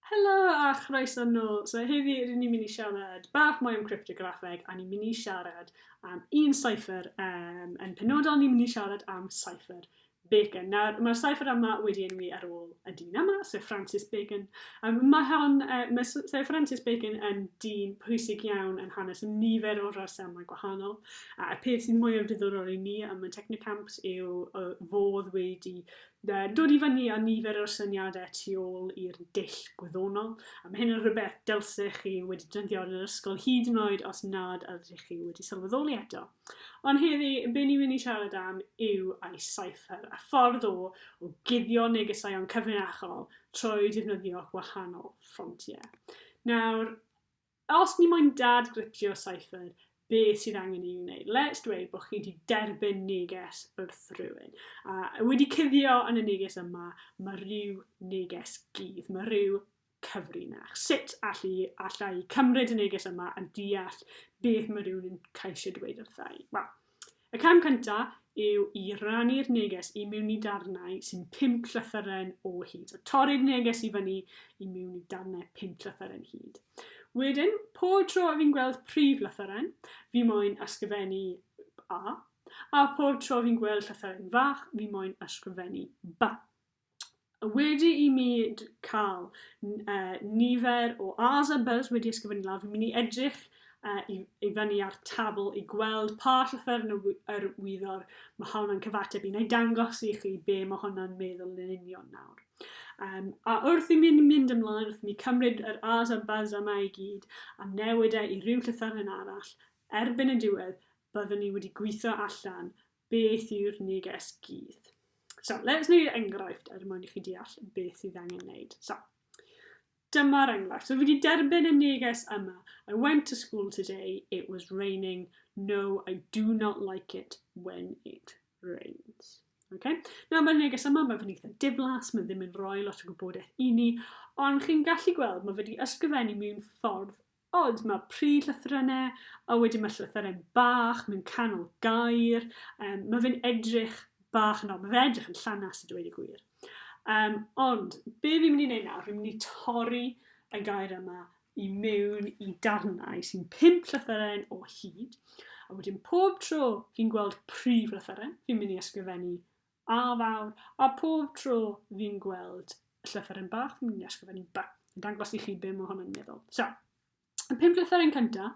Helo a chroeso nôl. So heddi rydyn ni'n mynd i siarad bach mwy am cryptograffeg a ni'n mynd i siarad am un cipher. Um, yn penodol ni'n mynd i siarad am cipher Bacon. Nawr, mae'r cipher yma wedi enwi ar ôl y dyn yma, Sir Francis Bacon. Um, mae, hon, uh, mae Sir Francis Bacon yn dyn pwysig iawn yn hanes nifer o resymau gwahanol. A'r peth sy'n mwyaf diddorol i ni am y Technocamps yw uh, fodd wedi Dod i fyny â nifer o'r syniadau tu ôl i'r dull gwyddonol, a mae hyn yn rhywbeth dylsech chi wedi defnyddio yn yr ysgol hyd yn oed os nad ydych chi wedi sylweddoli eto. Ond heddi, be ni'n mynd i siarad am yw ei cypher, a ffordd o o guddio negesau o'n cyfrinachol trwy defnyddio gwahanol ffontiau. Nawr, Os ni moyn dad gritio cypher, be sydd angen i ni wneud? Let's dweud bod chi wedi derbyn neges wrth rhywun, a wedi cuddio yn y neges yma, mae rhyw neges gudd, mae rhyw cyfrinach. Sut allu, allai cymryd y neges yma a deall beth mae rhywun yn cael eisiau dweud wrthau? Wel, Y cam cyntaf yw i rannu'r neges i mewn i darnau sy'n 5 llythyren o hyd. So torri'r neges i fyny i mewn i darnau 5 llythyren hyd. Wedyn, pob tro a fi'n gweld prif lythyren, fi moyn ysgrifennu A, a pob tro fi'n gweld llythyren fach, fi moyn ysgrifennu Ba. wedi i mi cael nifer o A's a B's wedi ysgrifennu lawr, fi'n mynd i edrych uh, i, i fyny ar tabl i gweld pa llythyr yn yr wyddor mae hwnna'n cyfateb i, neu dangos i chi be mae hwnna'n meddwl yn union nawr. Um, a wrth i mi mynd ymlaen, wrth i mi cymryd yr A's a B's yma i gyd, a newid e i ryw llythyr yn arall, erbyn y diwedd, byddwn ni wedi gweithio allan Beth yw'r neges gudd? So, let's wneud enghraifft er mwyn i chi deall beth sydd angen wneud. So, dyma'r enghraifft. So, fi wedi derbyn y neges yma. I went to school today, it was raining. No, I do not like it when it rains. Okay? Nawr, mae'r neges yma, mae fe'n eitha diflas, mae ddim yn rhoi lot o gwybodaeth i ni, ond chi'n gallu gweld, mae wedi ysgrifennu mewn ffordd Ond mae pryd llythrennau, a wedyn mae llythyren bach mewn canol gair, um, mae fe'n edrych bach yn ol, mae fe'n edrych yn llanas y dweud y gwir. Um, ond, be fi'n mynd i wneud nawr, fi'n mynd i torri y gair yma i mewn i darnau sy'n pimp llythyren o hyd, a wedyn pob tro fi'n gweld prif llythyren, fi'n mynd i ysgrifennu A fawr, a phob tro fi'n gweld y llythyren bach, fi'n mynd i ysgrifennu ba, yn dangos i chi be mae hwn yn meddwl. So, y pum llythyren cynta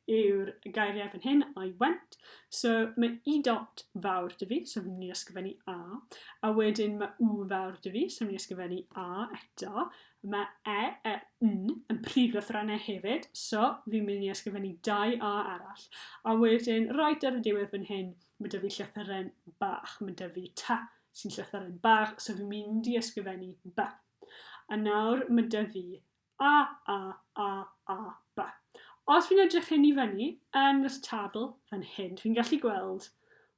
yw'r gairiau fan hyn, I went. So, mae i dot fawr dy fi, so fi'n mynd i ysgrifennu a. A wedyn mae u fawr dy fi, so fi'n mynd i ysgrifennu a eto. Mae e, e, n yn prif lythrennau hefyd, so fi'n mynd i ysgrifennu dau a arall. A wedyn, right ar y diwedd fan hyn, Mae 'da fi llythyren bach. Mae 'da fi ta sy'n llythyren bach, so fi'n mynd i ysgrifennu ba. A nawr mae 'da fi a, a, a, a, ba. Os fi'n edrych hyn i fyny yn yr tabl fan hyn, fi'n gallu gweld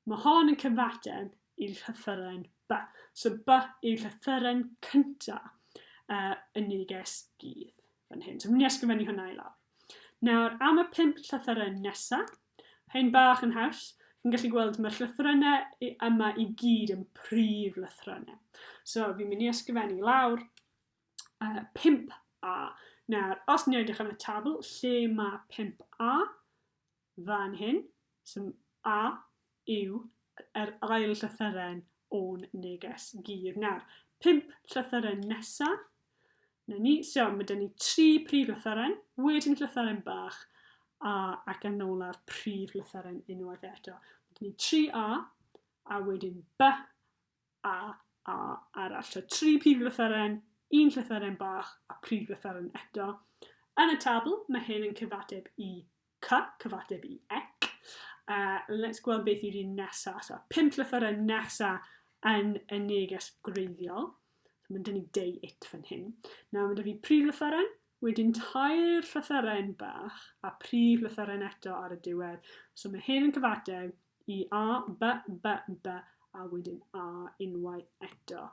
Mae hon yn cyfateb i llythyren ba. So ba yw llythyren cynta uh, y neges gydd fan hyn. So fi'n mynd i ysgrifennu hwnna i lawr. Nawr, am y pimp llythyren nesa, Hen bach yn haws, chi'n gallu gweld mae'r llythrynau yma i gyd yn prif lythrynau. So fi'n mynd i ysgrifennu lawr uh, 5A. Nawr, os ni'n edrych yn y tabl lle mae 5A, fan hyn, sy'n A, yw yr ail llythyren o'n neges gig. Nawr, pump llythyren nesa. Na ni. So, mae dyn ni tri prif llythyren, wedyn llythyren bach, a ac yn ôl ar prif llythyren unwaith eto. Mae dyn ni tri A, a wedyn B, a, a, arall. So, tri prif lythyren, un llythyren bach a prif lythyren eto. Yn y tabl, mae hyn yn cyfateb i cy, cyfateb i ec. Uh, let's gweld beth yw'r un nesaf. So, pimp llythyren nesaf yn y neges gwreiddiol. So, mae'n dynnu deu it fan hyn. Nawr, mae dy fi prif llythyren, wedyn tair llythyren bach a prif llythyren eto ar y diwedd. So, mae hyn yn cyfateb i a by by by a wedyn a unwaith eto.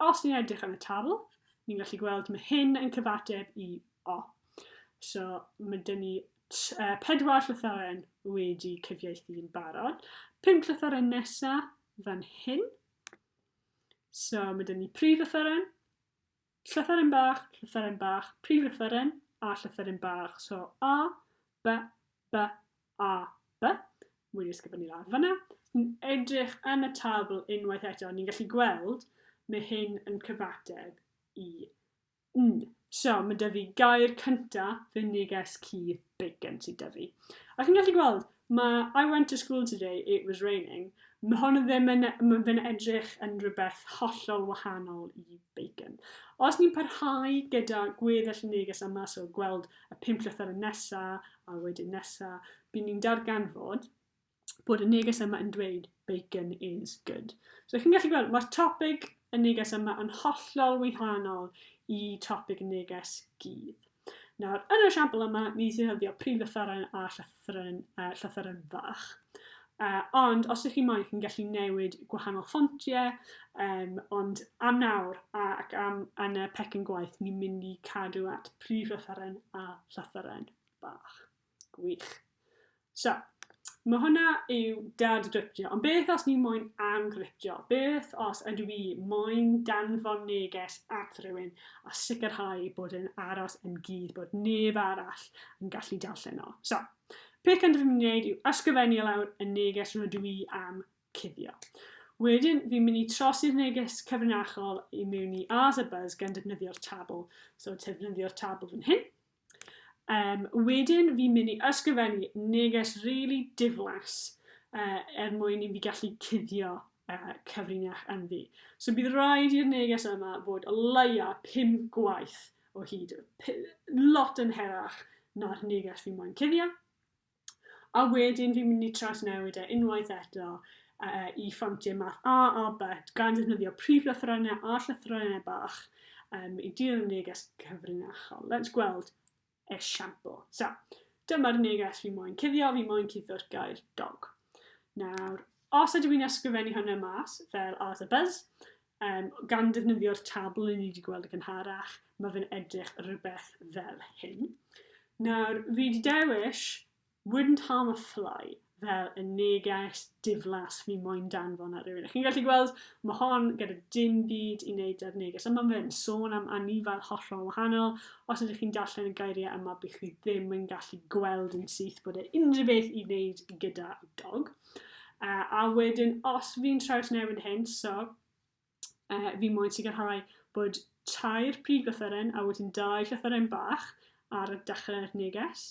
Os ni'n edrych ar y tabl, ni'n gallu gweld mae hyn yn cyfateb i o. So mae dyn ni uh, pedwar llythyren wedi cyfieithu'n barod. Pum llythyren nesa fan hyn. So mae dyn ni prif llythyren, Llythyren bach, llythyren bach, prif lythyren, a llythyren bach. So, a, b, b, a, b. Mwy ysgrifennu lawr fyna. Yn edrych yn y tabl unwaith eto, ni'n gallu gweld mae hyn yn cyfateb i n. So, mae dyfu gair cyntaf, fe neges cudd big gen ti dyfu. Ac yn gallu gweld, mae I went to school today, it was raining. Mae hwn yn ddim yn, mae fe'n edrych yn rhywbeth hollol wahanol i bacon. Os ni'n parhau gyda gweddill neges yma, so gweld y pum llythyr yn nesa, a wedyn nesa, bydd ni'n darganfod bod y neges yma yn dweud bacon is good. So chi'n gallu gweld, mae'r topic y neges yma yn hollol wahanol i topic y neges gydd. Nawr, yn y siampl yma, ni sy'n hyddio prif lythyren a llythyren, uh, llythyren fach. Uh, ond os ydych chi'n moyn, chi'n gallu newid gwahanol ffontiau, um, ond am nawr ac am yn y pecyn gwaith, ni'n mynd i cadw at prif lythyren a llythyren bach. Gwych. So, Mae hwnna yw dad driptio. Ond beth os ni moyn am griptio? Beth os ydw i moyn danfon neges at rhywun a sicrhau bod yn aros yn gyd bod neb arall yn gallu darllen o? So, peth cyntaf fi'n gwneud yw ysgrifennu lawr y neges rydw i am cuddio. Wedyn, fi'n mynd i trosi'r neges cyfrinachol i mewn i Ars a Buzz gan defnyddio'r tabl. So, defnyddio'r tabl fan hyn. Um, wedyn fi'n mynd i ysgrifennu neges rili really diflas uh, er mwyn i fi gallu cuddio uh, cyfrinach yn fi. So bydd rhaid i'r neges yma fod o leia 5 gwaith o hyd, lot yn herach na'r neges fi moyn cuddio. A wedyn fi'n mynd i trawsnewid e unwaith eto uh, i ffontiau math A a B, gan ddefnyddio prif lythrennau a llythrennau bach um, i dir y neges cyfrinachol. Let's gweld esiampl. So, dyma'r neges fi moyn cuddio, fi moyn cuddio'r gair dog. Nawr, os ydw i'n ysgrifennu hwnna mas, fel as a buzz, Um, gan ddefnyddio'r tabl ni wedi gweld y gynharach, mae fe'n edrych rhywbeth fel hyn. Nawr, fi wedi dewis Wouldn't Harm a Fly fel y neges diflas fi moyn danfon ar rywun. Chi'n gallu gweld, mae hon gyda dim byd i wneud â'r neges yma. Mae'n sôn am anifail hollol wahanol. Os ydych chi'n darllen y gairiau yma, bych chi ddim yn gallu gweld yn syth bod e unrhyw beth i wneud gyda dog. Yy a wedyn os fi'n trawsnewid hyn, so yy fi moyn sicrhau bod tair prif lythyren a wedyn dau llythyren bach ar y dechrau'r neges.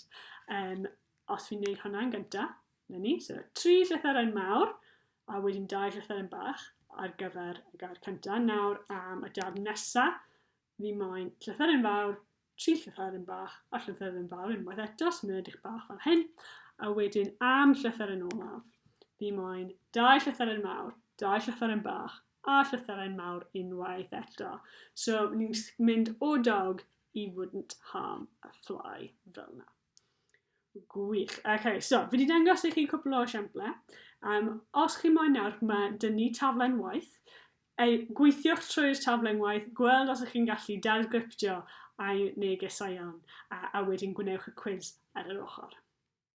Um, os fi'n neud hwnna'n gynta, na ni, so tri llythyren mawr a wedyn dau llythyren bach ar gyfer y gair cynta. Nawr am y darn nesa, fi moyn llythyren fawr, tri llythyren bach a llythyren fawr unwaith eto, sy'n mynd edrych bach fel hyn, a wedyn am llythyren olaf, fi moyn dau llythyren mawr, dau llythyren bach, a llythyren mawr unwaith eto. So, ni'n mynd o dog i wouldn't harm a fly fel yna. Gwych. OK, so fi wedi dangos i chi cwpl o esiamplau. Um, os chi moyn nawr, mae dyn ni taflen waith. Ei, gweithiwch trwy'r taflen waith, gweld os ych chi'n gallu dadgryptio ai negesau iawn, a, a wedyn gwnewch y cwiz ar yr ochr.